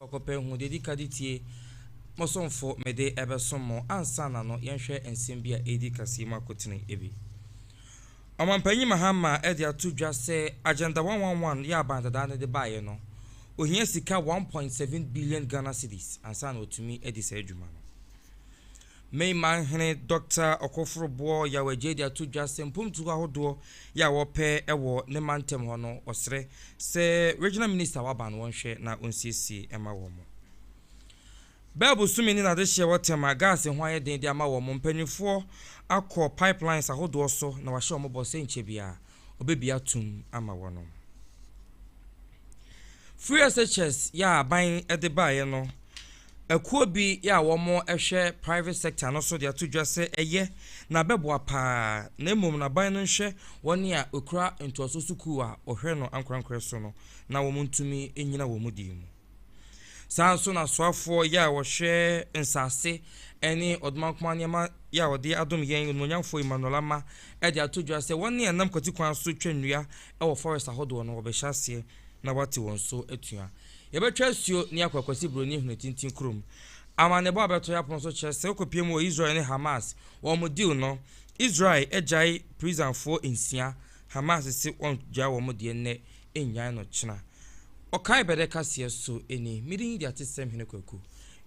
Kɔkɔpɛ hu deɛ ɛdi ka de tie. Mo somfo mede ɛbɛsom mo. Ansa na no, yɛnhwɛ nsɛm bi a ɛredi kaseɛ mu akotene bi. Ɔmampanyin Mahama de ato dwa sɛ Agenda 111 yɛ aban dadaa no de baeɛ no, ohia sika one point seven billion Ghana cedis ansa na watumi adi saa adwuma no. Myanmar hene Dɔkta Okofor Boɔ Yaw Adjei de ato dwa sɛ mpomtuo ahodoɔ yɛ a wɔpɛ wɔ ne mantam hɔ no ɔsrɛ sɛ Regional Minister a waba no wɔnhwɛ na ɔnsiesie mma wɔn. Bɛɛ bosome ne n'adehyeɛ wɔ tɛm a gas ho ayɛ den de ama wɔn mpanyinfoɔ akɔ pipelines ahodoɔ so na wahyɛ wɔn bɔ sɛ nkyɛ biara ɔbɛbie atom ama wɔn. Free SHS yɛ a aban de baeɛ no Akuo bi a wɔn hwɛ private sector no so de ato dwa sɛ ɛyɛ na bɛboa paa na mmom na ban no nhwɛ wɔn a ɛkura ntoasoɔ sukuu a wɔhwɛ no ankorankorɛ so no na wɔn ntumi nnyina wɔn deɛ mu. Saa ara nso na asoafoɔ yɛ a wɔhwɛ nsase ne ɔdomankoma nneɛma yɛ a wɔde adom yɛn onimonyamfoɔ Emmanuel Ama de ato dwa sɛ wɔn a nam kwatikwan so twa nnua wɔ forest ahodoɔ no wɔbɛhyɛ aseɛ na wɔate wɔn so atua. Yɛbɛtwa asuo ne akɔ Akwasi Buroni Hene Tintin kurom. Amanneɛbɔ a ɛbɛto yɛn apono so kyerɛ sɛ wokɔpie mu wɔ Israel ne Hamas wɔn deal no. Israel agyae prisonfoɔ nsia, Hamas se wɔngyae wɔn deɛ nnɛ, nnyae no kyena. Ɔkae bɛdɛ kaseɛ so ni. Medin de Atesɛm Hene Kwaku.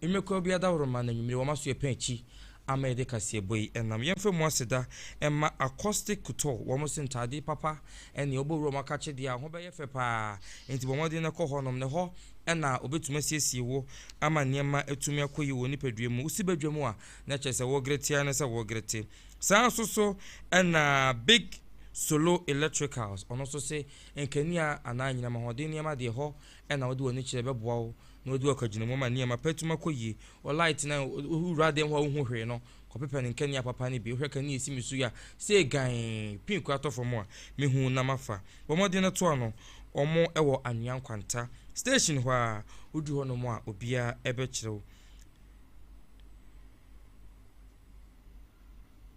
Nnwumakuo biara daworo ma no anwummere wɔma so yɛpɛn akyi Ama yɛde kaseɛbɔ yi nam yɛmfa mu aseda mma Accostick Couture wɔn se ntaade papa ne ɔbɔ wuram akakyedeɛ a ho bɛyɛ fɛ paa nti bɔ mmɔden na kɔ hɔnom na ɛhɔ na ɔbɛtumi asiesie wo ama nneɛma atumi akɔ yi wɔ nipadua mu wosi badwam a na kyerɛ sɛ wɔgerete ara ne sɛ wɔgerete saa nso so na big solo electricals ɔno nso se nkanea anaa anyinam ahoɔden nneɛma deɛ hɔ na wode w'ani kyerɛ bɛboa wo Na ɔdi ɔkagyina mu ma nneɛma pa tumi kɔ yie. Wo light no a wowura dan mu a wonhu hwee no, kɔpepa ne nkanea papa no bi. Wohwɛ kanea esi me so yi a, sei gann, pii koraa tɔ fam a, mehu na mafa. Bɔ mmɔden na to ano. Wɔn wɔ Anwea Nkwanta station hɔ ara. Wodu hɔnom a, obiara bɛkyerɛ wo.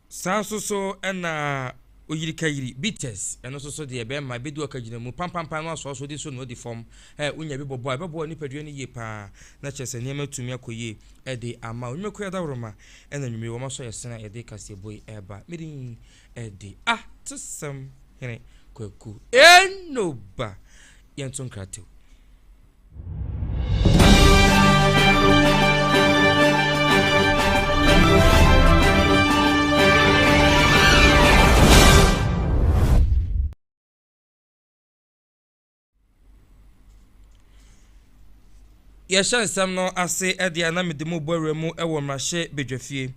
Saa nso so na oyirikayiri, bitters, ɛno nso so deɛ bɛrima ebedu ɔka gyina mu pampampan na wasɔɔsɔ di so na odi fam. Ɛ wonya bi bɔbɔ a ɛbɛboa nipadua no yie paa na kyerɛ sɛ nneɛma atumi akɔ yie ɛde ama wo. Nnwumakuo yɛ adawuroma ɛna anwummere wɔn asɔ yɛn sene a yɛde kaseɛbɔ yi ɛreba. Me din ɛde Atesɛm Hene Kwaku Enoba. Yɛnto nkratew. yɛhyɛ nsɛm no ase ɛde a na mede mu bɔ awura mu wɔ mmarahyɛ badwafie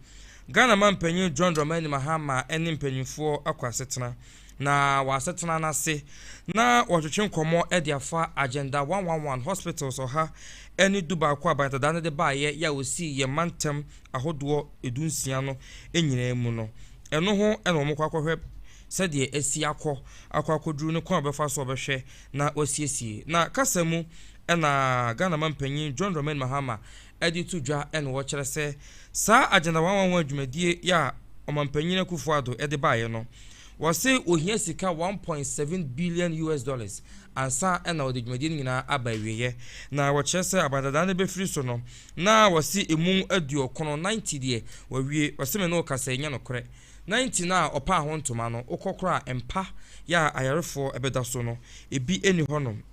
ghana ma mpanyin john dramani mahama ne mpanyinfoɔ akɔ asetena na wɔ asetena no ase na wɔtwetwe nkɔmmɔ de afa Agenda 111 Hospitals ɔha ne dubaako a Banatadaa no de baeɛ yɛ a wɔsii yɛn mantam ahodoɔ dunsia no nyinaa mu no, ɛno ho na wɔkɔ akɔhwɛ sɛdeɛ asi akɔ akɔ akɔduru ne kwan a wɔbɛfa so a wɔbɛhwɛ na wɔasiesie. Na kasa mu na Ghana Mampanyin John Dramani Mahama de to dwa na wɔkyerɛ sɛ saa agenda wanwanwa dwumadie yɛ a Ɔmanpanyin Akufo Addo de baeɛ no, wɔse wɔhia sika one point seven billion US dollars ansa na wɔde dwumadie no nyinaa aba awieɛ. Na wɔkyerɛ sɛ aban dadaa no bɛfiri so no, na wɔse ɛmu aduɔkron, ninety, deɛ wɔawie. Wɔse me ne wo kasa yi nyɛ nokorɛ. Ninety no a wɔpaa ho ntoma no, wokɔkora a mpa yɛ a ayarefoɔ bɛda so no, ebi nni hɔnom.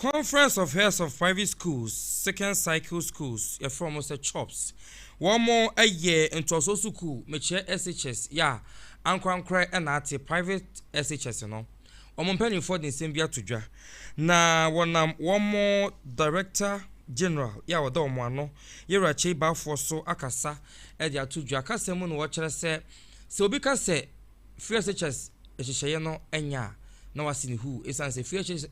Conference of Heads of Private Schools, Second Cycle Schools, yɛfrɛ wɔn sɛ CHOPS. Wɔn yɛ ntɔso sukuu, mekyerɛ SHS, yɛ a ankorankorɛ na ate private SHS no. Wɔn mpanimfoɔ de nsɛm bi ato dwa, na wɔnam wɔn Director General yɛ a ɔda wɔn ano, Yɛwura Kyei Baffour so akasa de ato dwa. Kasa mu na wɔkyerɛ sɛ, sɛ obi ka sɛ Free SHS nhyehyɛeɛ no nyɛ a, na wase ne huu, ɛsiane sɛ Free SHS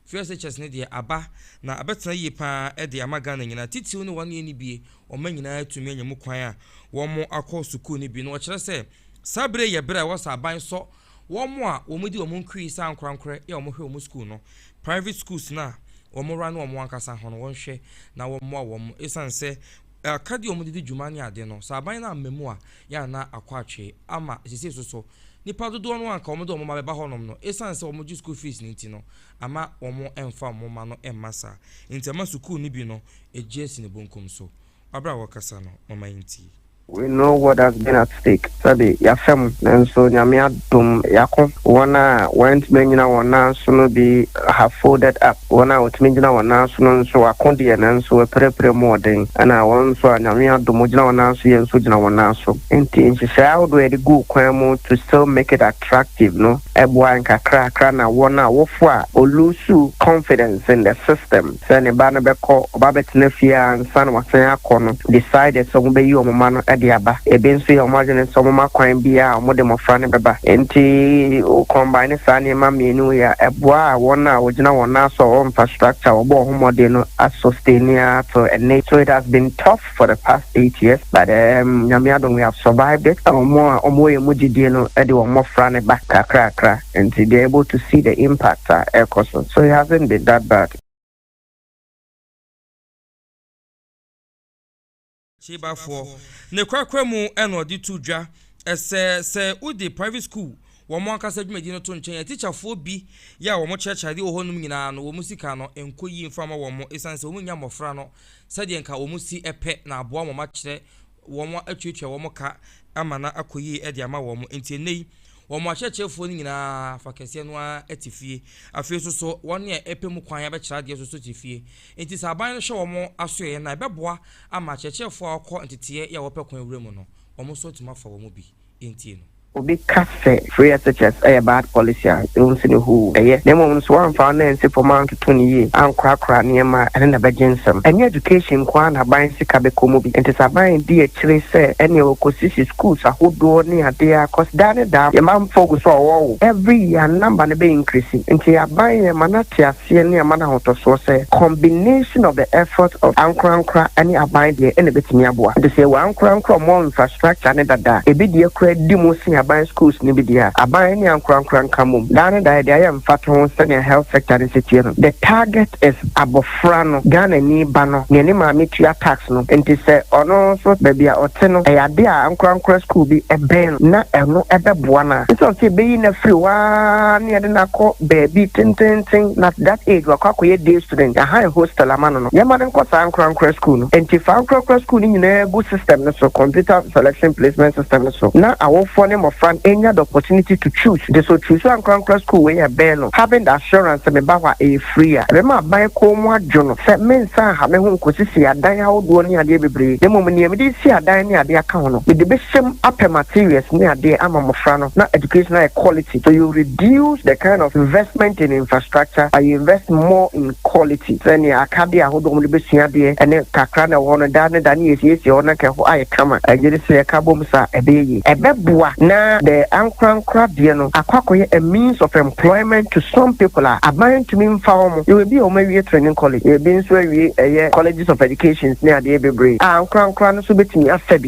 Free SHS no deɛ aba na abɛtena yie pa ara de ama Ghana nyinaa, titiriw ne wɔn a ɛnnibue, wɔma nyinaa atumi anya mu kwan a wɔakɔ sukuu no bi, na wɔkyerɛ sɛ saa berɛ yi yɛ berɛ a ɛwɔ sɛ aban sɔ Wɔn a wɔdi wɔn nkrii sɛ ankorankorɛ yɛ wɔn hwɛ wɔn sukuu no, private schools no a wɔn run wɔn ankasa ho no wɔn hwɛ na wɔn moa wɔn ɛsiane sɛ akadeɛ a wɔn de di dwuma ne ade no sɛ aban no amma mu a yɛ a na akɔ atwee ama sesei so so nipa dodoɔ no a nka wɔn de wɔn mma bɛba hɔ nom no ɛsiane sɛ wɔn gye school fees no nti no ama wɔn mfa wɔn mma no mma saa nti ɛma sukuu no bi no ɛgye asi ne bonkum so. Aber a wɔkasa no, momma yentsie. We know what has been at stake, sɛbe yɛafɛ mu, nanso Nyame adom yɛako. Wɔn a wɔantumi anyina wɔn nan so no bi have folded up, wɔn a wɔtumi gyina wɔn nan so no nso wɔako deɛ nanso wɔapirapira mu wɔ den, ɛna wɔn nso a Nyame adom wɔgyina wɔn nan so yɛn nso gyina wɔn nan so. Enti nhyehyɛe ahodoɔ a yɛde guu kwan mu to still make it attractive no boa yɛn kakrakra na wɔn a wɔfoa or loosu confidence in the system, sɛ ne ba no bɛkɔ ɔba abɛtena fie a ansa na wasan akɔ no, decided sɛ wɔbɛyi wɔn mma no de aba. Ebi nso yɛ wɔn adwene sɛ wɔma kwan bi a wɔde mmofra no bɛba. Enti wo combine saa nneɛma mmienu yi a, ɛboa wɔn a wɔgyina wɔn nan so a wɔn infrastructure a wɔbɔɔ ho mmɔden no a sustain ara till ɛnnɛ yi. So it has been tough for the past eight years but um, Nyame adom we have survived it. Ɔmo a ɔmo wɔ yɛn mu gyidie no de wɔn mmɔfra no ba kakrakra nti they are able to see the impact a ɛrekɔ so so it hasn't been that bad. Kyebafoɔ. Ne korakora mu na ɔde to dwa sɛ sɛ wode private school wɔn ankasa dwumadi no to nkyɛn a, tikyafoɔ bi yɛ a wɔkyerɛkyerɛ adeɛ wɔ hɔnom nyinaa no, wɔn sika no nkɔ yie mfa mma wɔn ɛsiane sɛ wɔnnya mmɔfra no sɛdeɛ nka wɔn si pɛ na aboa wɔn akyerɛ wɔn atuatua wɔn ka ama no akɔ yie de ama wɔn. Enti ɛnnɛ yi, wɔn akyerɛkyerɛfoɔ no nyinaa fa kɛseɛ no ara te fie. Afei nso so, wɔn a ɛpɛ mu kwan abɛkyerɛ adeɛ nso so te fie. Enti sɛ aban no hwɛ wɔn asoɛeɛ no a, ɛbɛboa ama akyerɛkyerɛfoɔ a wɔkɔ nteteeɛ yɛ a wɔpɛ kwan wura mu no, wɔn nso atumi afa wɔn mu bi. nti no. Obi ka sɛ free SHS yɛ bad policy a, ɛwɔ mu sɛ no hoo, ɛyɛ. Na mmom no, sɛ woamfa wo nan nsi fam antoto no yie, ankorakora nneɛma a, ɛno na ɛbɛgye nsam. Ɛnyɛ education nko ara na aban sika bɛkɔ mu bi. Ɛnte sɛ aban redi akyire sɛ ɛnneɛ wɔkɔsisi schools ahodoɔ ne adeɛ a, cos daa ne daa yɛn mamfoɔ gu so a wɔwɔ wo. Every year number no bɛ increase. Nti aban yɛn ma no ate aseɛ. aseɛ ne ama no ahotɔsoɔ sɛ combination of the efforts of ankorankora ne aban deɛ na ɛbɛtumi aboa. Nti sɛ yɛwɔ ankorankora a wɔn wɔ infrastructure no dada a, ɛbi deɛ koraa di mu sen aban schools no bi deɛ a, aban ne ankorankora nka mmom. Daa ne daa yɛde ayɛ mfatoho sɛdeɛ health sector no sɛ tie no, the target is abɔfra no, Ghanani ba no, deɛ ne maame tua tax no. Nti sɛ ɔno nso baabi a ɔte no ɛyɛ adeɛ a ankorankora school bi bɛn no na ɛno bɛboa no a, ɛsiane sɛ yɛbɛyi no afiri hɔ ara ne yɛde no akɔ, baabi tenteenten na at that age wakɔ akɔyɛ day student yɛahan hostel ama no no yɛmma no nkɔ saa ankorankora school no ɛnti fa ankorakora school no nyinaa gu system no so computer selection placement system no so na awofoɔ ne mmɔfra no ɛnya the opportunity to choose nti sɛ ɔchuusu ankorankora school wei a ɛbɛn no having the assurance sɛ me ba hɔ a ɛyɛ free a ɛbɛma aban kɔn mu adwo no sɛ mensan ha me ho nkɔsisi adan ahodoɔ ne adeɛ bebree na mmom nea mede resi adan ne adeɛ aka ho no mede bɛhyɛ mu apɛ materials ne adeɛ ama mmɔfra no. na education ayɛ quality so you reduce the kind of investment in infrastructure but you invest more in quality sɛ nea akadeɛ ahodoɔ wɔn de bɛsua adeɛ ɛne kakra na ɛwɔ hɔ no da ne da ne yɛsiesie hɔ na nka ɛhɔ ayɛ kama ɛgye de sɛ yɛka bom sa ɛbɛyɛ yie ɛbɛboa na the ankorankora deɛ no akɔ akɔyɛ a means of employment to some people a aban ntumi mfa wɔn yɛwɔ ebi a wɔn awie training college yɛwɔ ebi nso awie ɛyɛ colleges of education ne adeɛ bebree a ankorankora no nso bɛtumi afa bi.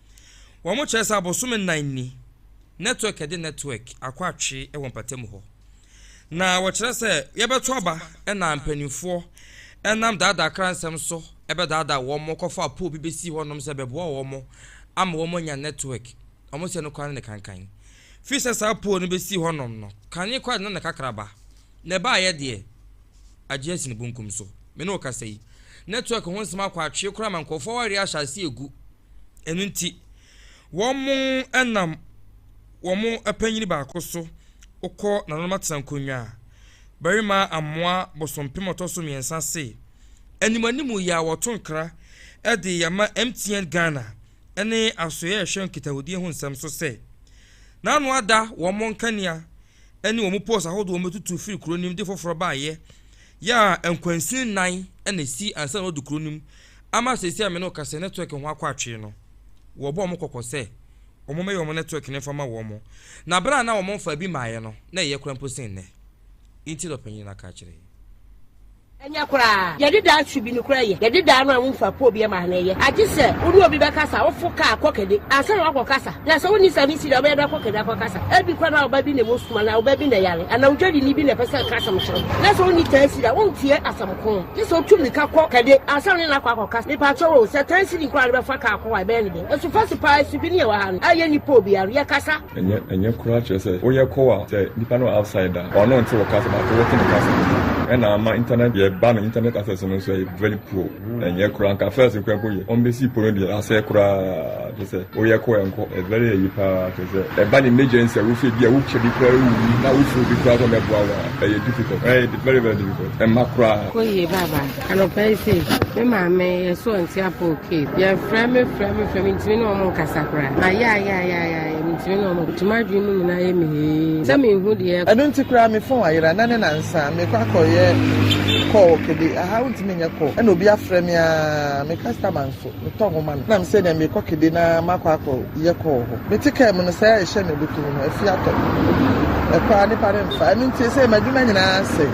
Wɔkyerɛ sɛ abosome nnan ni, network de network akɔ atwe wɔ mpatamu hɔ. Na wɔkyerɛ sɛ yɛbɛto aba na mpanimfoɔ nam daadaa kransɛm so bɛdaadaa wɔn kɔfa apoo bi bɛsi hɔnom sɛ bɛboa wɔn ama wɔn anya network. Wɔn sɛ no koraa ne ne kankan. Firi sɛ saa apoo no bɛsi hɔnom no, kane koraa de na ne kakraba. Na ɛbaeɛ deɛ, agye asini bonkum so. Me ne wo kasa yi, network ho nsɛm akɔ atwe koraa ma nkurɔfoɔ awareɛ ahyɛ aseɛ regu. Ɛno nti, wɔnam wɔn panyin baako so kɔ nananom atenankonnwa. Barima amoa bosompem a ɔtɔ so mmiɛnsa se, Animuanimu yɛ a wɔto nkra de yɛ ma MTN Ghana ne Asoeɛ a Ɛhwɛ Nkitahodie ho Nsɛm so sɛ, N'ano ada wɔn nkanea ne wɔn poles ahodoɔ wɔn bɛtutu firi kuro no mu de foforɔ baeɛ yɛ a nkwansin nnan na ɛsi ansa na wɔdu kuro no mu ama seesei a me ne wo kasa network ho akɔ atwee no wɔbɔ wɔn kɔkɔ sɛ wɔn mɛyɛ wɔn network no mfa ma wɔn na berɛ a na wɔn mfa bi maeɛ no na ɛyɛ kora mpo sen nnɛ nti na ɔpanyin no aka akyerɛ Ɛnyɛ koraa. Yɛde daa su bi nokorɛ yɛ. Yɛde daa no a womfa poo biɛ maa no ɛyɛ. Agye sɛ wo ne obi bɛkasa, wofo kaa kɔ kɛde ansa na woakɔ kasa. Na sɛ wonni saa nsi deɛ wobɛyɛ dɛ akɔ kɛde akɔ kasa. Ɛbi kora na ɔba bi na ɛmu sum anaa ɔba bi na ɛyare anaa odwadini bi na ɛpɛ sɛ ɛka asɛm kyerɛ wo. Na sɛ wonni tansiri a, wonteɛ asɛm ko. Gye sɛ wotu mmirika kɔ kɛde ansa na wone no akɔ akɔ kasa. Mepakyɛw o, sɛ tansiri nko ara na wode bɛfa kaa kɔ hɔ a, ɛbɛyɛ no dɛn? Ɛso fa so paa, su bi ne yɛwɔ ha no a yɛnni poo biara no, yɛkasa. Ɛnyɛ ɛnyɛ koraa kyerɛ sɛ woyɛ kow a sɛ nipa no wɔ outside a ɔno nte wo kasa but wote ne kasa ɛna ama internet yɛ ba no internet access no nso ɛyɛ very poor ɛnyɛ koraa nka first koraa mpo yɛ wɔn besi po no deɛ asɛe koraa kyerɛ sɛ woyɛ kow ɛnkɔ ɛ very ɛyi paa kyerɛ sɛ ɛba ne emergency a wofɛ bi a wotwa bi koraa wuwu na wofɛ obi koraa sɛ ɔmɛboa wo a ɛyɛ difficult ɛyɛ very very difficult ɛmma koraa. Kɔ yie bye bye. Anɔpa yi sei, me maame yɛsɔɔ Ntiapɔɔ Cave. Yɛfrɛ me frɛ me frɛ mentumi ne wɔn nkasa koraa. Mayɛ ayɛ ayɛ ayɛ ayɛ mentumi ne wɔn nti m'adwene mu nyinaa yɛ me hee sɛ menhu deɛ ɛrekɔ. Ɛno nti koraa me phone ayera na ne nansa mekɔ akɔyɛ call kɛde ahaa wontumi nyɛ call ɛna obi afrɛ me aa me customer nso. Metɔ hɔ ma no. Nna mese nea merekɔ kede na makɔ akɔyɛ kɔɔ hɔ. Mete kaa mu no, saa a ɛhyɛ me abotow no, afi atɔ me. Ɛkɔ ara, nnipa remfa. Ɛno nti, seesei m'adwuma nyinaa asɛe.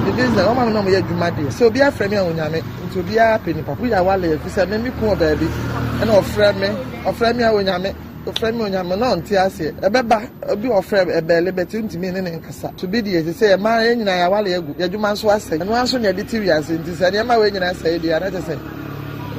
Me business, wɔma me na wɔyɛ adwuma deɛ, sɛ obi afrɛ me a, onyame. Nti obiara pɛ nnipa. Woyɛ aware a, ɛfiri sɛ me, meko wɔ baabi, ɛna ɔfrɛ me, ɔfrɛ me a, onyame. Ɔfrɛ me ɔnya me na ɔnte aseɛ. Ɛbɛba obi a ɔfrɛ ɛbɛɛle but wontumi ne ne nkasa. So bi deɛ te sɛ yɛn mmaa yɛn nyinaa yɛn aware agu, yɛn adwuma nso asɛe. Ɛno ara nso na yɛde te wiase nti sɛ nneɛma wei nyinaa sɛe deɛ a na kyerɛ sɛ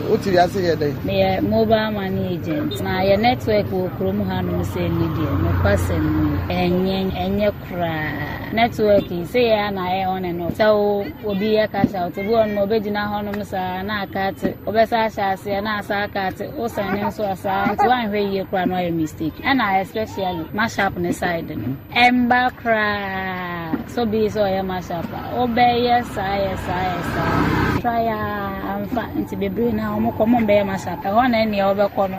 wote wiase yɛ dɛn? Meyɛ mobile money agent na yɛn network wɔ kurom hanom sei ne deɛ nokwasɛm nie ɛnyɛ ɛnyɛ. koraa. Network yi sɛ yɛ a na ayɛ on and off. Sɛ wo obi yɛ cash out bi wɔ no ma obegyina hɔnom saa na aka ate. Wobɛsa ahyɛ aseɛ na asa aka ate. Wo sɛn ne nso ɔsaa nti woanhwɛ yie koraa na wayɛ mistake. Ɛna especially mashup ne side no. Ɛmba koraa so bi sɛ ɔyɛ mashup a. Wobɛyɛ saa yɛ saa yɛ saa. Try a amfa nti bebree no a wɔkɔ wɔn bɛyɛ mashup. Ɛhɔ na ɛnea wobɛkɔ no.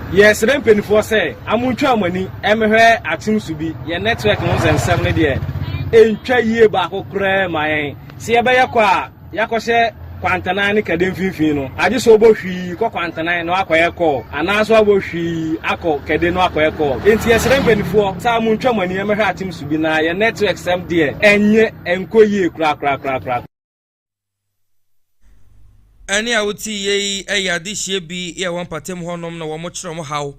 Yɛsrɛ mpaninfoɔ sɛ amontwaa mo ani mmɛhwɛ atem so bi, yɛn nɛtwɛk no sɛ nsɛm no deɛ ɛntwa yie baako koraa mma yɛn, sɛ yɛbɛyɛ kɔ a yɛakɔhyɛ Kwantanan ne Kade mfimfini no, agye sɛ wobɔ hwii kɔ Kwantanan na woakɔyɛ kɔɔl anaa nso woabɔ hwii akɔ Kade na woakɔyɛ kɔɔl. Enti yɛsrɛ mpaninfoɔ sɛ amontwa mo ani mmɛhwɛ atem so bi na yɛn nɛtwɛk sɛm deɛ ɛnyɛ ɛnkɔ yie korakorakorakoraa. Ɛnne a wote yie yi yɛ adehyeɛ bi yɛ wɔn mpɔtam hɔnom na wɔkyerɛ wɔn haw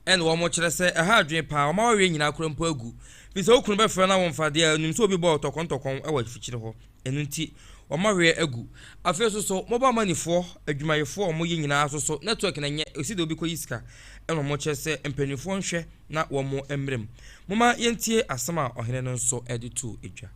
na wɔkyerɛ sɛ ɛha adwene paa, wɔn awareɛ nyinaa kora mpo agu. Bi sɛ wo kunu bɛfrɛ na womfa deɛ wonim sɛ obi bɔɔ tɔkɔntɔkɔn wɔ afikyire hɔ. Ɛno nti wɔn awareɛ agu. Afei nso so mobile money foɔ, adwumayɛfoɔ a wɔyɛ nyinaa nso so network na ɛnyɛ ɛsi deɛ obi kɔyi sika na wɔkyerɛ sɛ mpanimfoɔ nhwɛ na wɔn mmrɛ mu. Momma yɛntie asɛm a ɔhene no nso de too dwa.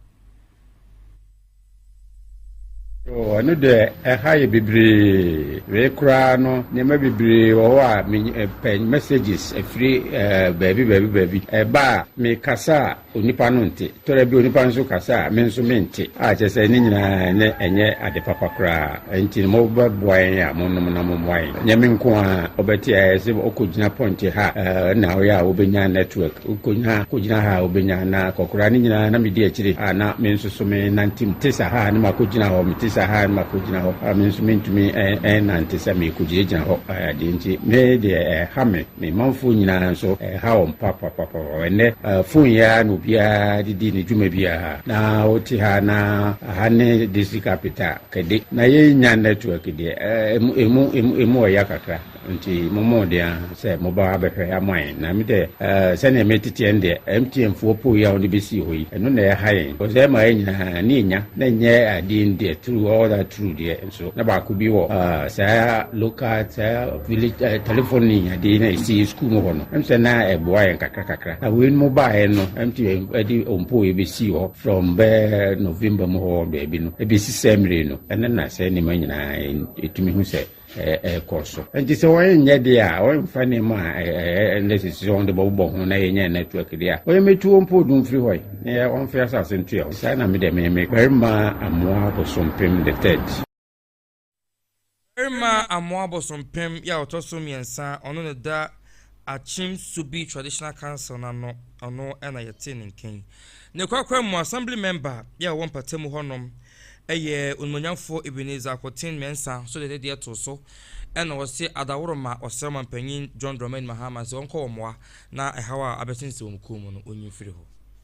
Oh, ɛno deɛ ɛha yɛ bebree. Wei koraa no, nneɛma bebree wɔ hɔ a mepɛ eh, messages afiri eh, baabi baabi baabi. Ɛba a, mekasa a onipa no nte. Tɔrɛ bi onipa no nso kasa a me nso mente. A kyerɛ sɛ ne nyinaa ne ɛnyɛ ade papa koraa. Ɛnti no mobɛboa yɛn a monom na mommoa yɛn. Nyɛ me nko a ɔbɛte ayɛ sɛ ɔkɔgyina pɔnkye ha eh, na woyɛ a wobɛnya network. Okonyaa kogyina ha a obenya na kɔkoraa ne nyinaa na medi akyire a na me nso so me nante mu te sa ha a ne mako gyina hɔ me te sa ha a ne mako gyina hɔ a me nso me ntumi ɛn nante sɛ me kogyina gyina hɔ ɛɛ deɛ nti me deɛ ɛɛ ha me me manfoɔ nyinaa nso ɛɛ ha wɔn pa pa pa pa pa ɛnɛ ɛɛ fon yi ara na obiara de di ne dwuma bi a ha na wote ha na ha ne district capital kɛde na yɛn nya network deɛ ɛɛ emu emu emu emu ɔya kakra. Ntsi mommɔ mbɔden ara sɛ mobɛba abɛhwɛ ama hɛn, na emi dɛ, sɛnea meretsetseɛ no deɛ, MTMfoɔ ɔpoo yi a wɔde bɛsii hɔ yi, ɛno na ɛha yɛn, coz ɛma yɛn nyinaa ani nya, na ɛnyɛ adeɛ no deɛ, through all that through deɛ nso, na baako bi wɔ saa local, saa village telephony adeɛ no a ɛsi yɛn sukuu mu hɔ no, ɛm sɛ na ɛboa yɛn kakra kakra, na wei nom baeɛ no, MTM de ɔmpoo yi bɛsii hɔ from bɛɛ November mu hɔ baabi no, ɛbɛsi saa mmire yi no, ɛno na saa nneɛma nyinaa yɛtumi hu sɛ ɛrekɔ so. Nti sɛ wɔnyɛ deɛ a, wɔmfa nneɛma a ɛyɛ nnɛ sisi sɛ wɔde bɔbobɔ ho na yɛnyɛ network deɛ a, wɔyɛ mɛtu wɔn mpo odum firi hɔ yi, na yɛ wɔmfe asase ntua hɔ. Saa na me deɛ meme. Barima Amoa Bosompem the Third. Barima Amoa Bosompem yɛ a ɔtɔ so mmiɛnsa, ɔno na ɛda Akyem Subi Traditional Council no ano, ɔno na yɛte ne nka yi. Ne korakora mu, Assembly Member yɛ a ɔwɔ Mpatamu hɔnom, Ɛyɛ Onimuonyamfoɔ Ebenezer Akoten Mensah nso de ne deɛ too so na ɔse Adaworoma ɔsrɛ Ɔmanpanyin John Dramani Mahama se ɔnkɔ wɔ mmoa na ɛhaw a abɛsensɛn wɔn kuo mu no ɔnyi mfiri hɔ.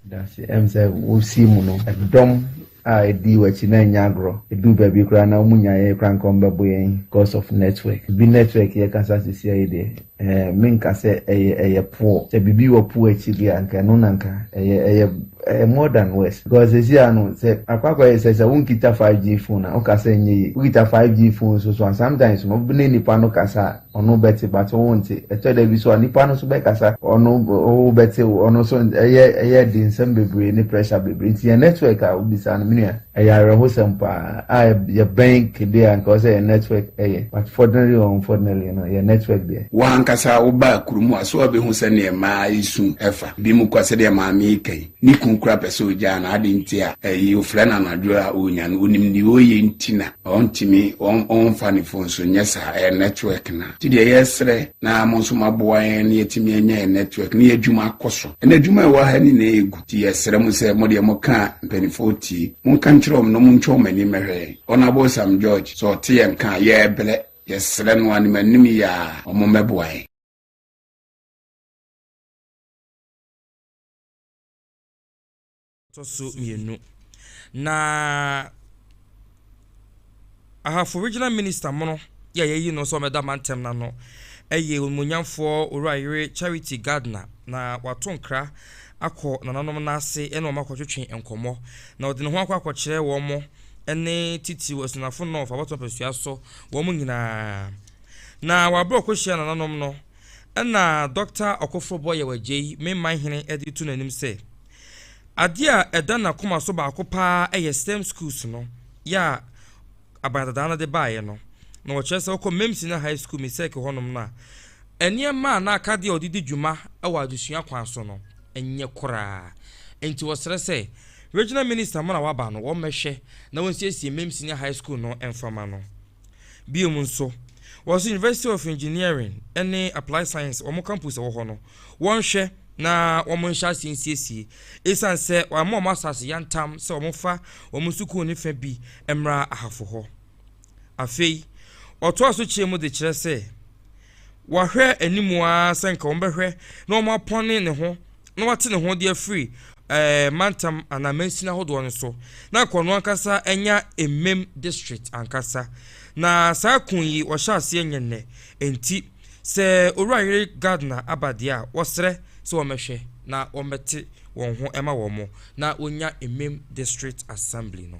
Dase ɛm sɛ wo sii mu no ɛdɔm a ɛdii wakyi na ɛnyɛ agorɔ ɛduu baabi koraa na ɔmu nyaeɛ koraa nka ɔmbɛbo yɛn cos of network ɛbi network yɛ kasa sisi a yi deɛ Eh, menka sɛ ɛyɛ ɛyɛ poor. Sɛ biribi wɔ poor akyi deɛ anka ɛno na nka ɛyɛ ɛyɛ ɛyɛ more than worse. Because sɛsi a no sɛ akɔ akɔyɛ sɛ sɛ wonkita 5G phone a woka sɛ ɛnyɛ yie. Wokita 5G phone nso so a sometimes no wo ne nnipa no kasa a ɔno bɛte but wo wonte. Ɛtɔ da bi nso a nnipa no nso bɛkasa ɔno wo bɛte ɔno nso ɛyɛ ɛyɛ den nsɛm bebree ne pressure bebree. Nti yɛn network a wobisa no me nua Ɛyɛ awerɛhosɛm paa a yɛbɛn kede a anka ɛwɔ sɛ yɛn network yɛ but fortunately or unfortunately no yɛn network deɛ. Wo ankasa wo baa kuro mu a so wabɛ hu sɛ neɛ mmaa yi su ɛfa bi mu kɔ sɛdeɛ maame yi ka yi ne kunu koraa pɛ sɛ ɔgyaa no ade nti a ɛyi ɔfrɛ no anadwo a ɔnya no ɔnim deɛ ɔyɛ nti na ɔntimi ɔmfa ne phone so nyɛ saa ɛyɛ network no nti deɛ yɛsrɛ na mo nso maboa yɛn na yɛtumi anya yɛn network na yɛ adwuma akɔ so ɛna adwuma ɛwɔ ha nyinaa ɛgu Nti yɛsrɛ mo sɛ mo deɛ moka a mpaninfoɔ tie. Monka nkyerɛ wɔn na montwa wɔn ani mmɛhwɛ yɛn. Honourable Sam George, sɛ ɔte yɛn nka a, yɛrebrɛ. Yɛsrɛ no anim anim yi ara wɔn mmɛboa yɛn. Ɛtɔ so mmienu, na Ahafo Regional Minister mono yɛ yɛyi no sɛ ɔmɛda mantam no ano ɛyɛ Onimonyamfoɔ Owura Yere Charity Gardner na wato nkra akɔ nananom no ase ɛne wɔn akɔtwetwe nkɔmmɔ na ɔde ne ho akɔ akɔkyerɛ wɔn ɛne titiriw Asunafo North abatoɔ mpasua so wɔn nyinaa na wabrɛ ɔkɔhyia nananom no ɛna Dɔkta Ɔkoforobɔ Yɛwɔ Agyei Memman Hene ɛde reto n'anim sɛ Adeɛ a ɛda n'akoma so baako pa ara yɛ stem schools no yɛ a Abagadadaa no de baeɛ no. Na wɔkyerɛ sɛ wokɔ Mame Senior High School Mesek hɔnom no a, nneɛma a na akadeɛ a wɔde di dwuma wɔ adesua kwan so no nyɛ koraa. Enti wɔsrɛ sɛ Regional Minister mo na waba no wɔmmɛhwɛ na wɔnsiesie Mame Senior High School no mfa ma no. Bio nso, wɔse University of Engineering ne Applied Science wɔn campus wɔ hɔ no, wɔnhwɛ na wɔn nhyɛ aseɛ nsiesie ɛsiane sɛ wɔama wɔn asase yantam sɛ wɔn fa wɔn sukuu no fa bi mmra ahafo hɔ. Afei, ɔtoa so kyerɛ mu de kyerɛ sɛ, Wahwɛ anim ara sɛ nka wɔbɛhwɛ na wɔapɔne ne ho na wate ne ho de afiri ɛɛ mantam anaa mansin ahodoɔ no so na nka ɔno ankasa anya mmam district ankasa na saa kun yi wɔhyɛ aseɛ nyɛ nnɛ enti sɛ owura yere Gardner aba deɛ a wɔsrɛ sɛ wɔmɛhwɛ na wɔmɛte wɔn ho ɛma wɔn na wɔnya mmam district assembly no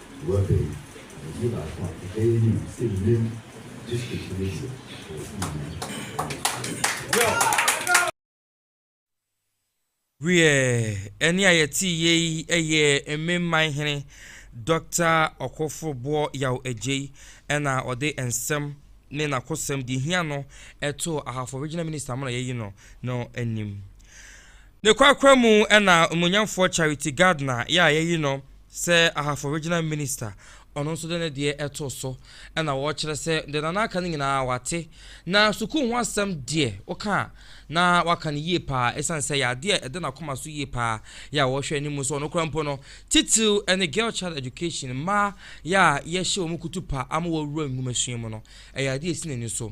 Nua Bain, Abɔdin baako a ɛbɛyɛ anim sɛ Mim district no deɛ ɛwɔ Sunyani Community. Wiɛ, ɛnne a yɛteeɛ yi yɛɛ Mim Man Hene Dɔkta Ɔkofo Boɔ Yaw Adjei na ɔde nsɛm ne n'akosɛm, deɛ ɛhia no, too Ahafo Regional Minister Amona Yɛyi No no anim. Ne korakora mu na onuonyamfoɔ Charity Gardner yɛ a yɛayi no sɛ Ahafo Regional Minister, ɔno nso de ne deɛ too so na wɔrekyerɛ sɛ deɛ Nana aka no nyinaa wate. Na sukuu ho asɛm deɛ woka a na waka no yie paa ɛsiane sɛ ɛyɛ adeɛ a ɛda n'akoma so yie paa yɛ a wɔrehwɛ anim nso ɔno koraa mpo no titiriw ne Girl Child Education, mmaa yɛ a yɛhyɛ wɔn kutupa ama wɔawura nwomasua mu no ɛyɛ adeɛ a ɛsi n'ani so.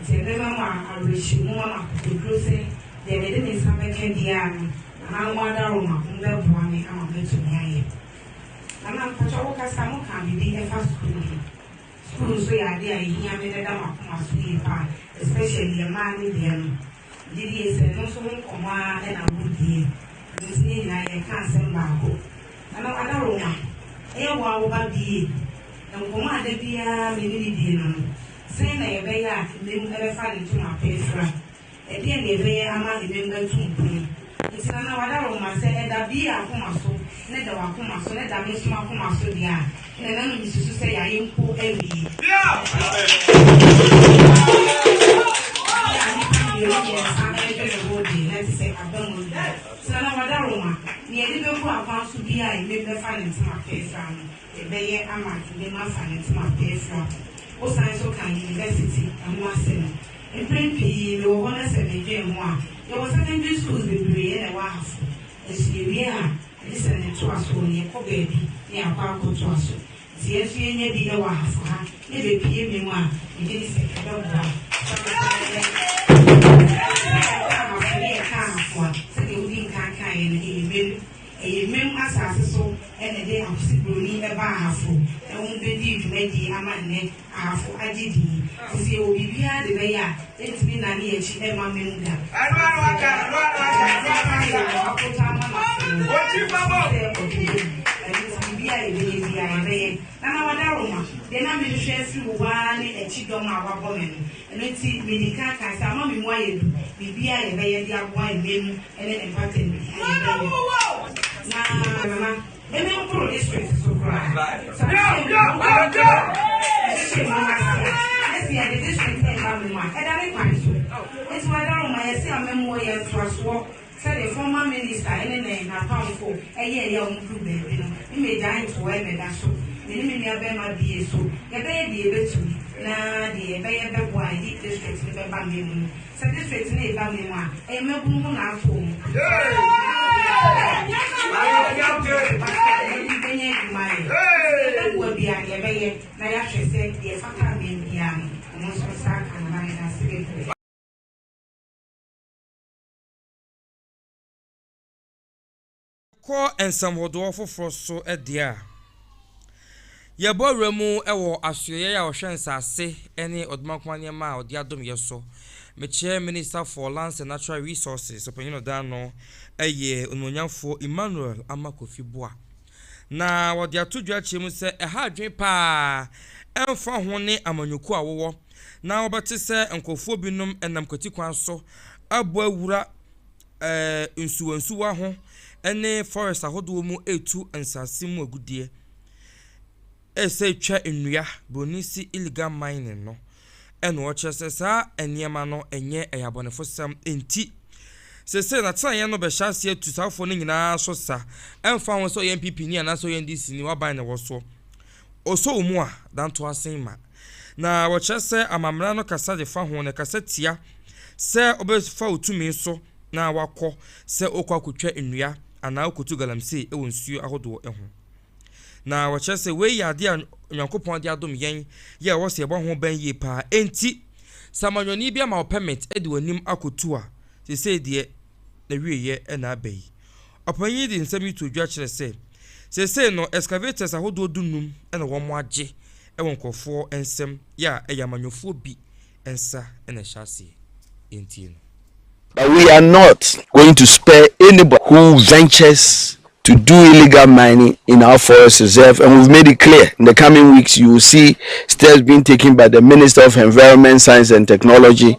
Nti ɛbɛma mo awerɛhyɛmu ama akokoduro sɛ deɛ mede me nsa bɛka biara no, nananom adaworoma, mobɛboa me ama matumi ayɛ. Nana, mpakyɛw wo kasa, mokaa biribi ɛfa sukuu ho. Sukuu nso yɛ adeɛ a ɛhia me na ɛda m'akoma so yie paa, especially ɛmaa no deɛ no. Gyedie sɛ no nso ho nkɔmmɔ ara na wodie, ɛno nti yɛn nyinaa yɛreka asɛm baako. Ɛno ada wo nwa? Ɛyɛ wo a wo ba die? Nkɔmmɔ a da biara me ne no die no no, sɛn na yɛbɛyɛ a mmam bɛfa ne ntoma pee fra? Ɛdeɛn na yɛbɛyɛ ama mmam atu mpɔn? Enti na na wɔada wɔn mma sɛ ɛda Bea akoma so, na ɛda w'akoma so, na ɛda me nso m'akoma so deɛ a, ɛnna na no mesusu sɛ yɛayɛ mpo awie. Bere a nnipa mmienu mmiɛnsa redwene ho de, na ɛte sɛ aba mu aduru. Enti na na wɔada wɔn ma nea ɛde bɛgu akwan so biara a, ɛmem bɛfa ne ntoma fɛɛfɛ ano. ɛbɛyɛ ama nneɛma asan atim apeafira. Wosan nso ka yunivɛsiti ho asɛm. Mpɛn pii mewɔ hɔ na sɛ medwen ho a, yɛwɔ secondary schools bebree na ɛwɔ ahafo. Nanso yɛwie a, agye sɛ ne ntoasoɔ no yɛkɔ baabi na yɛakɔ akɔtoa so. Nti yɛn nso yɛnya bi wɔ ahafo ha na ɛbɛpue me mu a, megye di sɛ ɛbɛboa. Ɛsiane sɛ yɛka ahafo ne yɛka ahafo a, sɛdeɛ wodi nkan kaeɛ no, ɛyɛ mmienu. Ɛyɛ Mem asase so na ɛde Akwsi Broni ba Ahafo ho bedii dwumadie ama nnɛ Ahafo agye din. Sisi yɛwɔ biribiara de bɛyɛ a ɛntumi nnane yɛn akyi ɛmma Mem da. Sɛdeɛ Aboakota ama no ase no, ɔsii sɛ ɔdwo Mem. Ɛno nti biribiara a yɛbɛyɛ biara yɛbɛyɛ. Nana Wadaroma, deɛ na mehwehwɛ afiri wo hɔ ara ne akyi dɔm a woabɔ me no. Ɛno nti medi kan kae sɛ ama me mu ayɛ du. Biribiara a yɛbɛyɛ de aboa Mem ne mpata nti na yɛbɛyɛ na mama ɛne nkoro district so koraa ɛhyehyɛ mu aseɛ ɛsi yɛde district ne ba mu a ɛda ne kwan so nti wada no ma yɛsi amammuo yɛ ntoasoɔ sɛdeɛ former minister ɛne ne n'apamfo ɛyɛ ɛyɛ wɔn duru baabi no ne mmegya ntoa ɛbɛda so ne ne menua bɛrima bie so yɛbɛyɛ deɛ yɛbɛtumi na deɛ yɛbɛyɛ bɛboa yɛ district no bɛba mmɛ mu Sɛ ne faith no reba me mu a, ɛyɛ mmabunu ho na afa omu. Yɛn de bɛnya adwuma ayɛ. Sɛ yɛbɛboa bi a, yɛbɛyɛ na yɛahwɛ sɛ deɛ ɛfata abɛn biara no, wɔn nso nsa aka. Meda mo nyinaa ase bebree. Kɔ nsɛm hodoɔ foforɔ so deɛ a, yɛbɔ awura mu wɔ asoɛeɛ a ɔhwɛ nsase ne ɔdomankoma nneɛma a ɔde adom yɛ so. Mekyerɛ Minister for Lands and Natural Resources, Ɔpanyin Ɔdan no, yɛ Onimuonyamfoɔ Emmanuel Ama Kofi Boah. Na wɔde ato dwa akyerɛ mu sɛ ɛha adwene pa ara, ɛmfa ho ne amanyɔkuo a wowɔ, na wobɛte sɛ nkorɔfoɔ binom nam kwatikwan so abɔ awura ɛɛ nsuwansuwa ho ne forest ahodoɔ mu retu nsase mu agudeɛ, ɛsɛ twa nnua, broni se illegal mining no, ɛna ɔkyerɛ sɛ saa nneɛma no ɛnyɛ ɛyɛ abɔnefosɛm nti sese n'atenaeɛ no bɛhyɛ ase atu saafoɔ no nyinaa so sa, ɛmfa ho sɛ ɔyɛ NPP ni anaasɛ ɔyɛ NDC ni, waban na ɛwɔ soɔ. Ɔsɔ wo mu a, da ntoasen ma. Na wɔkyerɛ sɛ amammerɛ no kasa de fa ho, na ɛkasa tia sɛ ɔbɛfa wo tumi so na wakɔ sɛ ɔrekɔ akɔtwa nnua anaa ɔrekɔtu galamsey wɔ nsuo ahodoɔ ho. Na wɔkyerɛ sɛ wei yɛ adeɛ a Onyankopɔn de adom yɛn yɛ a ɛwɔ sɛ yɛbɔ ho ban yie paa. Enti, sɛ amanyɔni bi ama wo pɛmit de w'anim akɔtu a, seesei deɛ n'awieeɛ na aba yi. Ɔpanyin yi de nsɛm yi too dwa kyerɛɛ sɛ, Seesei no, excavators ahodoɔ du-nnum na wɔagye wɔ nkurɔfoɔ nsam, yɛ a ɛyɛ amanyɔfoɔ bi nsa na ɛhyɛ aseɛ. Enti no. But we are not going to spare anybody who ventures to do illegal mining in our forest reserve and we've made it clear in the coming weeks you will see steps being taken by the Minister of Environment, Science and Technology,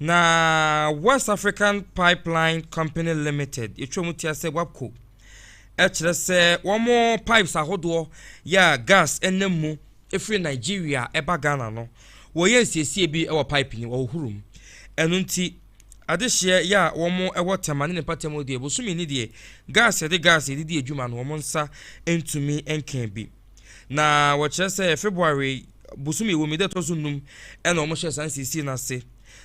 Na West African Pipeline Company Limited, yɛtwa mu tia sɛ WAPCO, kyerɛ sɛ wɔn pipes ahodoɔ yɛ a gas nam mu firi Nigeria ɛba Ghana no, wɔyɛ nsiesie bi wɔ pipe no wɔhohoro mu. Ɛno nti, adehyeɛ yɛ a wɔn wɔ Tema ne ne mpatamu deɛ, bosome ni deɛ, gas yɛde gas yɛde di adwuma no wɔn nsa ntumi nka bi. Na wɔkyerɛ sɛ February bosome wɔ mu da ɛtɔ so num ɛna wɔn hyɛ saa nsiesie no ase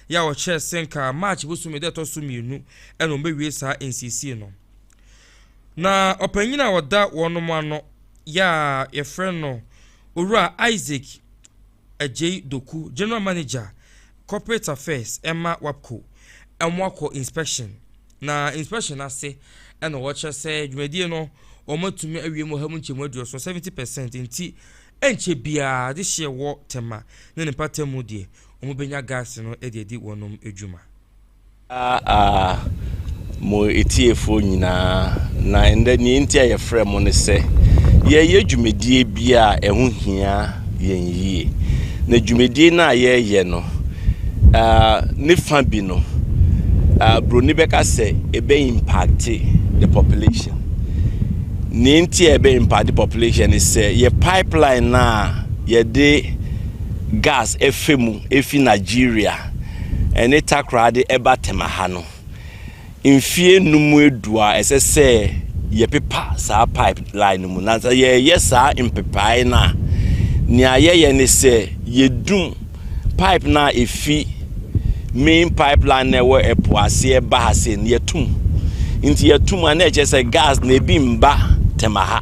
yɛ a wɔkyerɛ sɛ nka March bosome da ɛtɔ so mmienu ɛna wɔn bɛwie saa nsiesie no na ɔpanyin a ɔda wɔn ano yɛ a yɛfrɛ no owura Isaac Agyei Doku, General Manager, Corporate Affairs ma WAPCO, wɔakɔ inspection, na inspection no ase na wɔkyerɛ sɛ dwumadie no wɔatumi awie mu ɔha mu nkyɛmu aduoson, seventy percent, nti ɛnkyɛ biara adehyeɛ wɔ Tema ne ne mpatamu deɛ wɔbɛnya gas no de adi wɔnom dwuma. Aa aa, mo atiefoɔ nyinaa, na ɛnnɛ deɛ enti a yɛfrɛɛ mo ne sɛ, yɛreyɛ dwumadie bi a ɛho hia yɛn yie. Na dwumadie no a yɛreyɛ no, aa, ne fa bi no, aa, buroni bɛka sɛ ɛbɛ impacte the population. Deɛ enti a ɛbɛ impacte population ne sɛ, yɛ pipeline no a yɛde gas ɛfa mu ɛfiri Nigeria, ɛne takoradi ba tema ha no, mfeɛ nnum adu a ɛsɛ sɛ yɛpepa saa pipe line no mu. Na sɛ yɛyɛ saa mpepaeɛ no a, nea yɛyɛ ne sɛ yɛdum pipe no a ɛfi main pipeline na ɛwɔ ɛpo aseɛ ba ha sei no yɛtum. Nti yɛtum a na ɛkyerɛ sɛ gas na ebi mba tema ha.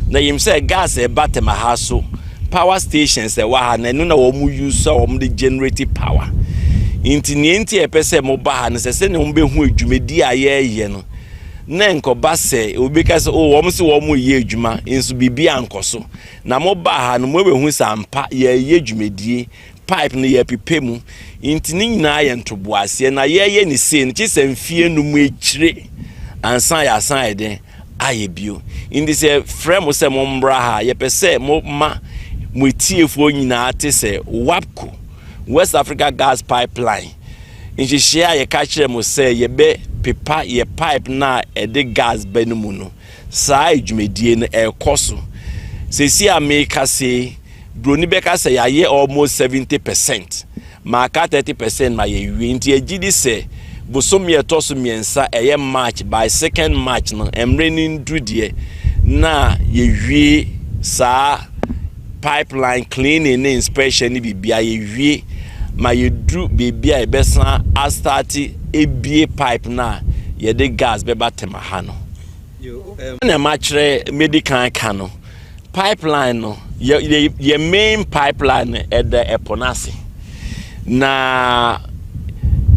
Na yɛnim sɛ gas ɛba tema ha so Power stations a ɛwɔ ha no, ɛno na wɔn use a wɔn de generate power. Nti nea nti a ɛpɛ sɛ mo ba ha no sɛ sɛ na wɔn bɛ hu adwumadi a yɛreyɛ no. Na nkɔba sɛ obi ka sɛ o oh, wɔn se wɔn reyɛ adwuma nso biribi ankɔ so. Na mo ba ha no mo bɛ hu sɛ ampa yɛreyɛ dwumadie, pipe no yɛrepepe mu. Nti ne nyinaa yɛ ntoboaseɛ na yɛreyɛ ne sei no kye sɛ mfie num akyire ansa yɛasan ayɛ den ayɛ bio. Nti sɛ yɛfrɛ mo sɛ mommra ha a, yɛpɛ sɛ moma mo atiefoɔ nyinaa te sɛ WAPCO, West Africa Gas Pipeline, nhyehyɛeɛ a yɛka kyerɛɛ mo sɛ yɛbɛpepa yɛn pipe no a ɛde gas ba no mu no. Saa dwumadie no, ɛrekɔ so. Seesei a merekasa yi, Buroni bɛka sɛ yɛayɛ almost seventy percent, maka thirty percent ma yɛawie. Nti yɛgye di sɛ bosome a ɛtɔ so mmiɛnsa, ɛyɛ March, by second March no, mmerɛ no nnuru deɛ, na yɛawie saa pipeline cleaning ne inspection ne biribiara, yɛawie ma yɛduru baabi a yɛbɛsan astarte abue pipe no a yɛde gas bɛba Tema ha no. Na makyerɛ, mɛdi kan aka no, Pipeline no, yɛ yɛ yɛ main pipeline no ɛda ɛpo no ase, na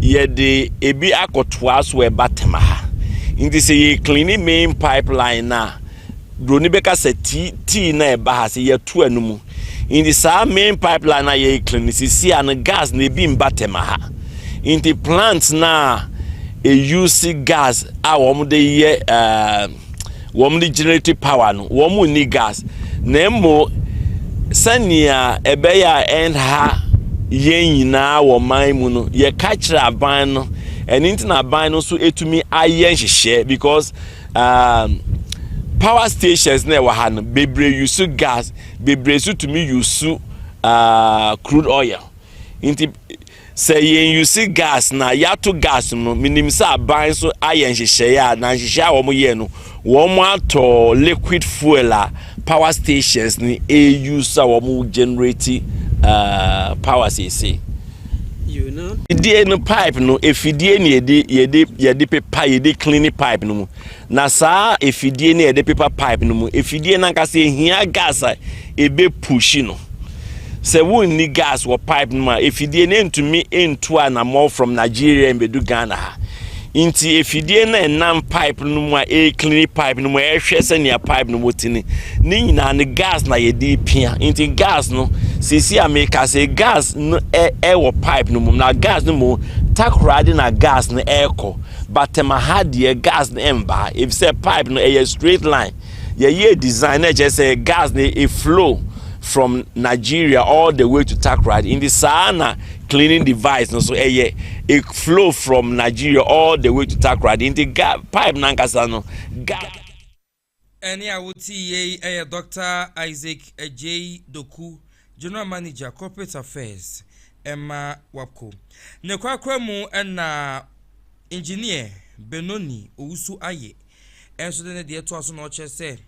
yɛde ebi akɔtoa so ɛba tema ha. Nti sɛ yɛ clean main pipeline no a, buroni bɛka sɛ tii tii na ɛba ha sɛ yɛato ano mu. Nti saa main pipeline no a yɛ clean no sisi a no gas na ebi mba tema ha. Nti plant no a ɛuse gas a wɔde yɛ ɛɛ. Uh, Wɔn regenerate power no, wɔn nni gas, na mmo sɛnea ɛbɛyɛ a ɛnha yɛn nyinaa wɔ man mu no, yɛka kyerɛ aban no. Ɛno nti na aban no nso etumi ayɛ nhyehyɛe because um, power stations na ɛwɔ ha no bebree yusu gas, bebree nso tumi yusu uh, crude oil. Nti Sɛ yɛnuse gas na yɛato gas no no, menim sɛ aban nso ayɛ nhyehyɛeɛ a, na nhyehyɛeɛ a wɔyɛɛ no, wɔatɔ liquid fuel a power stations no use a wɔn generate uh, power seesei. Fidie no pipe no, efidie ne yɛde yɛde yɛde pepa yɛde clean pipe no mu. Na saa afidie no a yɛde pepa pipe no mu afidie no ankasa ɛhia gas a ɛbɛpuhyi no. Sɛ wonni gas wɔ pipe no mu a afidie no ntumi ntu anammɔn from Nigeria mbɛdu Ghana ha. Nti afidie no a ɛnam pipe no mu a ɛreklini pipe no mu ɛrehwɛ sɛnea pipe no mu tene ne nyinaa no gas na yɛde pia. Nti gas no sisi a meka sɛ gas no ɛwɔ pipe no mu na gas no mu takoradi na gas no ɛrekɔ. But ɛma ha deɛ gas no ɛmba efisɛ pipe no ɛyɛ straight line yɛyɛɛ design na ɛkyerɛ sɛ gas no e flow from Nigeria all the way to Takoradi nti saa na cleaning device no so ɛyɛ e flow from Nigeria all the way to Takoradi nti ga pipe no ankasa no ga. Ɛnne a wotiiɛ yi yɛ Dɔkta Isaac Adjei Doku, General Manager, Corporate Affairs ma WAPCO. Ne korakora mu na Engineer Benoni Owusu Aye nso de ne deɛ toa so na ɔkyerɛ sɛ,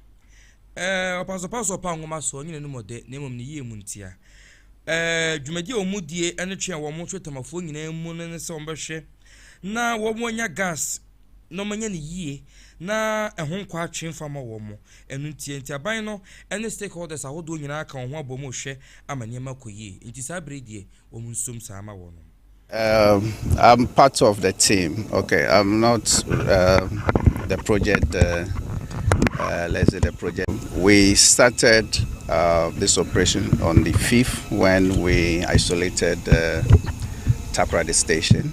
Ɔpasopaso ɔpa nwoma so, ɔnye n'anom ɔdɛ, na mmom ne yie mu ntia. Dwumadi a wɔdie ne twe a wɔtwe Temafoɔ nyinaa mu no ne sɛ wɔbɛhwɛ na wɔanya gas, na wɔanya no yie na ɛho nkɔ atwe mfa mma wɔn. Ɛno nti, nti aban no ne stakeholders ahodoɔ nyinaa ka wɔn ho abom rehwɛ ama nneɛma akɔ yie. Nti saa berɛ yi deɛ, wɔn nsom saa ma wɔn. Um, I'm part of the team. Okay, I'm not um, the project. Uh, uh, let's say the project. We started uh, this operation on the fifth when we isolated uh, Takoradi station.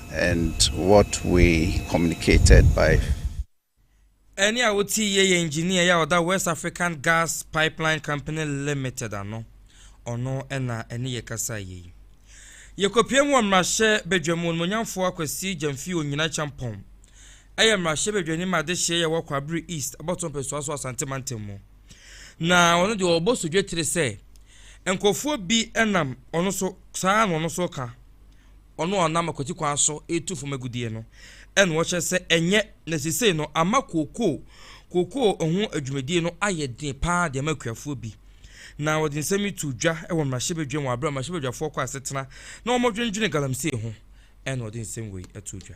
and what we communicated by. Ɛne a wotii yɛ yɛ engineer yi a ɔda West African Gas Pipeline Company Limited ano, ɔno na ɛne yɛ kasae yɛ yi. Yɛkɔpiam wɔ mmarahyɛ badwa mu, Onimuonyamfoɔ Akwasi Gyamfi Onyina Kyampɔn yɛ mmarahyɛ badwani ma adehyeɛ yi a ɛwɔ Kwabre East, Abɔto mpɛsoa so Asante mantam mu. Na ɔno deɛ ɔbɔ so dwetire sɛ nkurɔfoɔ bi nam ɔno so saa na ɔno so ka. ɔno a ɔnam akwati kwan so retu fam agudeɛ no na wɔkyerɛ sɛ ɛnyɛ, na seesei no ama kookoo kookoo ho dwumadie no ayɛ den paa de ama akuafoɔ bi. Na wɔde nsɛm yi too dwa wɔ mmarahyɛbadwam wɔ aberɛ a mmarahyɛbadwafoɔ kɔ asetena na wɔdwendwene galamsey ho na wɔde nsɛm wei too dwa.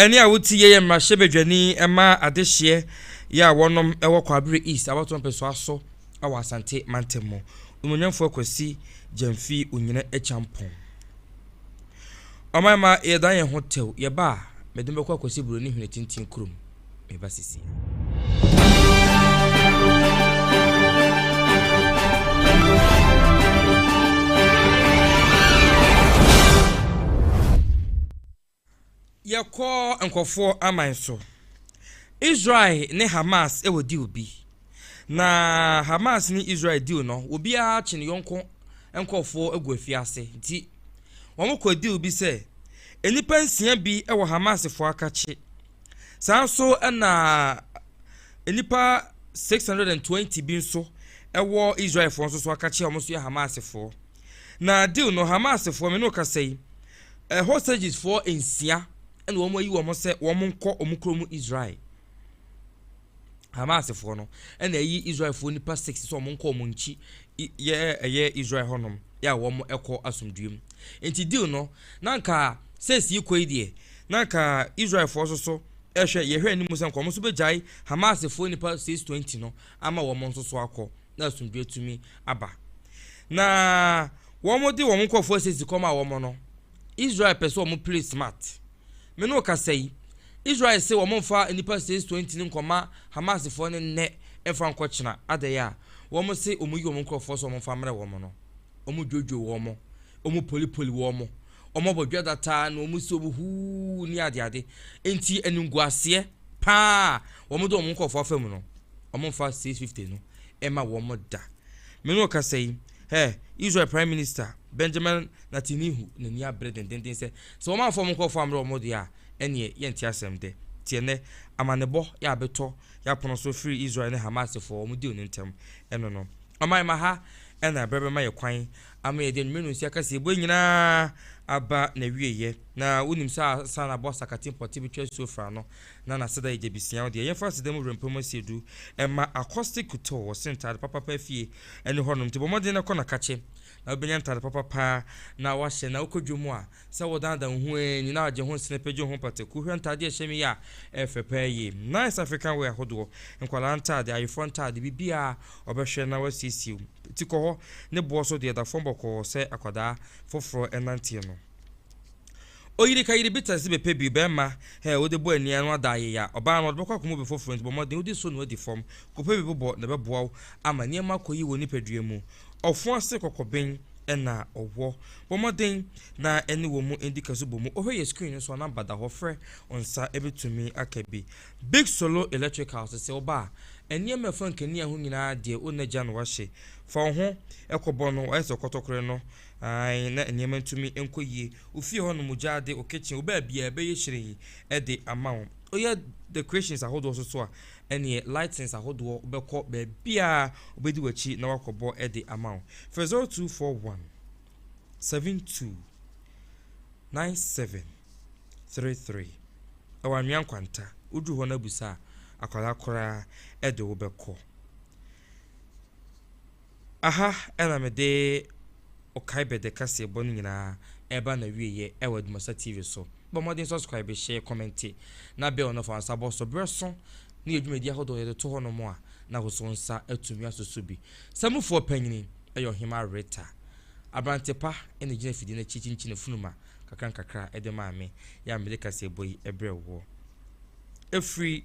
Ɛnne a wote yɛ yɛ mmarahyɛbadwani ma adehyeɛ yɛ a wɔnom wɔ Kwabre East abatoɔ mpɛsoa so wɔ Asante mantam mu, Onuonyamfoɔ Kwasi Gyamfi Onyina Akyampong. Ɔman mma yɛdan yɛn ho tɛw, yɛba a, mede mo bɛkɔ akɔsi Buroni Hene Tintin kurom, meba sesie. Yɛkɔ nkorɔfoɔ aman so. Israel ne Hamas wɔ deal bi. Na Hamas ne Israel deal no, obiara kye ne yɔnko nkorɔfoɔ agu afiase. Nti wɔkɔɔ deal bi sɛ nnipa nsia bi wɔ Hamasfoɔ akakye. Saa nso na nnipa 620 bi nso wɔ Israelfoɔ nso so akakye a wɔn nso yɛ Hamasfoɔ. Na deal no, Hamasfoɔ, me ne wo kasa yi, Ɛ Hostagesfoɔ nsia na wɔayi wɔn sɛ wɔnkɔ wɔn kuro mu Israel. Hamasfoɔ no na ayi Israelfoɔ nipa six sɛ wɔnkɔ wɔn nkyi yɛ ɛyɛ Israel hɔnom yɛ a wɔn ɛkɔ asomdue mu. Nti deal no na nka sɛ esii kɔ yi deɛ na nka Israelfoɔ nso so ɛhwɛ yɛhwɛ anim sɛ nka wɔn nso bɛgyae Hamasfoɔ nipa six twenty no ama wɔn nso so akɔ. na asomdwoe atumi aba. Na wɔde wɔn nkurɔfo ahyɛ dzikɔm a wɔn no, Israel pɛ sɛ wɔn play smart. Me ne wo kasa yi, Israel se wɔn mfa nnipa says 20 no nkɔma Hamasfoɔ no nnɛ mfa nkɔkyena adɛn a wɔn se wɔn yi wɔn nkurɔfoɔ sɛ wɔn mfa mmrɛ wɔn no. Wɔn dwodwo wɔn, wɔn polipoli wɔn, Wɔbɔ dwada taa na wɔn si wɔn huu ne adeade. Enti animguaseɛ pa ara a wɔde wɔn nkurɔfoɔ afa mu no, wɔmfa 650 no mma wɔn da. Me ne wo kasa yi, hɛ, Israel Prime Minister Benjamin Netanyahu n'ani abere dendeenden sɛ, sɛ wɔamfa wɔn nkurɔfoɔ ammrɛ wɔn deɛ a, ɛnneɛ yɛnte asɛm dɛ. Tie nnɛ amanebɔ yɛ a abɛtɔ yɛn apono so firi Israel ne Hamasfoɔ wɔn deal no ntam no no. Ɔman ma ha na ɛberɛ bɛma yɛn kwan ama yɛde anwummere no nsu akɛseɛ bue nyinaa aba n'awieeɛ. Na wonim sɛ ansa na bɔs akate mpɔte betwa asuo fã no, na n'aseda yɛ gyabisiaa. Ɔde ɛyɛmfa aseda mu werɛ mpem asia du ma Accosti Couto, ɔse ntaade papa paa fie ne hɔnom, nti bɔ mmɔden na kɔ na ka kye na wobɛnya ntaade papa paa na woahyɛ na wokɔ dwom a, Sɛ wodaadaa wo ho ɛ, nyina agye ho nsene pɛ gye ho pataku, hwɛ ntade a ɛhyɛ me yi a, ɛyɛ fɛ paa yie. Nice African wear ahodoɔ, nkwadaa ntade, ayeforɔ ntade, biribiara, wɔbɛhwɛ na wɔasiesie wo. Ti kɔ hɔ, ne boɔ so deɛ ɛda fam bɔkɔɔ sɛ akwadaa foforɔ nanteɛ no. Oyiri ka yiri bitters de bɛpɛ bio, barima hɛ wode bɔ aniaa no ada ayeya, ɔbaa no ɔde bɛkɔ akɔma obi foforɔ nti bɔ mmɔden wode so no adi fam, kɔpɛ bi bobɔ na ɛbɛboa wo ama nneɛma akɔ yie wɔ nipadua mu. Ɔfo ase kɔkɔben. na ɔwɔ. Bɔ mmɔden na ɛne wɔn mu di kɛse bɔ mu. Ɔhwɛ yɛ screen no so a number da hɔ frɛ nsa ɛbɛtumi aka bi. Big Solo Electricals sɛ woba a nneɛma ɛfa nkanea ho nyinaa deɛ wo nagya na wahye. Fa wo ho kɔbɔ no wayɛ sɛ kɔtɔkorɛ no ae na nneɛma ntumi nkɔ yie. Wo fie hɔ nom gyaade, wo kitchen, wo baabiara ɛbɛyɛ hyerɛnn de ama wo. Woyɛ decorations ahodoɔ nso so a ɛneɛ lightings ahodoɔ wobɛkɔ baabiara wobɛdi w'akyi na wakɔbɔ de ama wo. Frɛ 0241 72 97 33 ɛwɔ Anwea Nkwanta, woduru hɔ no abusa a, akwadaa koraa de wobɛkɔ. Aha na mede Okaibɛ de kaseɛbɔ no nyinaa reba n'awieɛ wɔ Adumasa TV so. Bɔ mmɔden subscribe, share, comment, na bell no fa wo nsa bɔ so. Berɛ so ne yɛ dwumadi ahodoɔ yɛde to hɔnom a, na wo so nsa atumi asoso bi. Samufoɔ panyini yɛ Ɔhema Rita. Aberante pa na ɛgyina afidie no akyi kyinkyini funuma kakra nkakra de maa me. Yɛ a mede kaseɛbɔ yi brɛ woɔ. Ɛfiri.